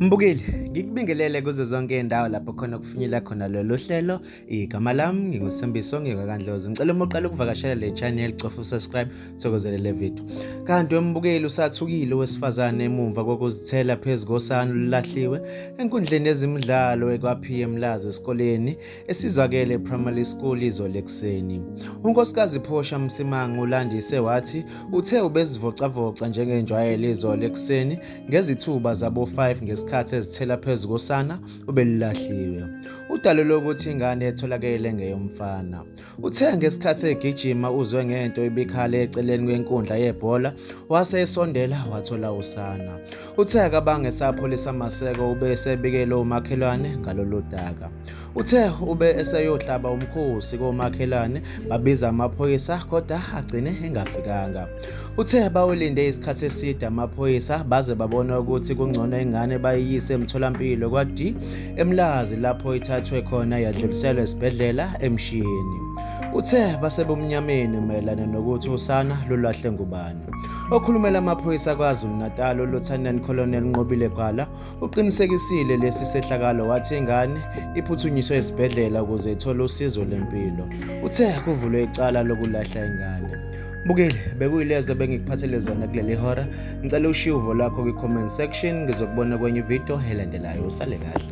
Mbukeli, ngikubingelele kuzo zonke indawo lapho khona kufinyela khona lolu hlelo. Igama lami nginguSimbiso ngikakandlozi. Ngicela uma uqala ukuvakashela le channel cofa usubscribe thokozele le video. Kanti wembukeli usathukile wesifazane emumva kokuzithela phezulu kosana olulahliwe enkundleni yezimidlalo ekwaPM Laza esikoleni esizakele primary school izolo ekuseni. UNkosikazi Phosha Msimangu ulandise wathi uthe ubezivocavoca njengenjwayelo izolo ekuseni ngezithuba zabo-5 ngesikhathi ezithela phezu kosana obelulahliwe. Udalule ukuthi ingane etholakele ngeyomfana. Uthe ngesikhathi egijima uzwe ngento ibikhala eceleni kwenkundla yebhola wase esondela wathola usana. Uthe akabange sapholisa maseko ube esebikele umakhelwane ngalolu daka. Uthe ube eseyohlaba umkhosi komakhelwane babiza amaphoyisa kodwa agcine engafikanga. Uthe bawulinde isikhathi eside amaphoyisa baze babona ukuthi kungcono ingane bayiyise emtholampilo kwa-D eMlazi lapho ithathwe khona yadluliselwa esibhedlela eMshini. Uthe basebumnyameni mayelana nokuthi usana lulahle ngubani. Okhulumela amaphoyisa KwaZulu-Natal uLieutenant Colonel Nqobile Gwala Uqinisekisile lesi sehlakalo wathi ingane iphuthunyiswe esibhedlela ukuze ithole usizo lempilo. Uthe kuvulwe icala lokulahla ingane. Bukile, bekuyilezo bengikuphathele zona kuleli hora. Ngicela ushiye uvo lwakho kwi-comment section. Ngizokubona kwenye ividiyo elandelayo. Usale kahle.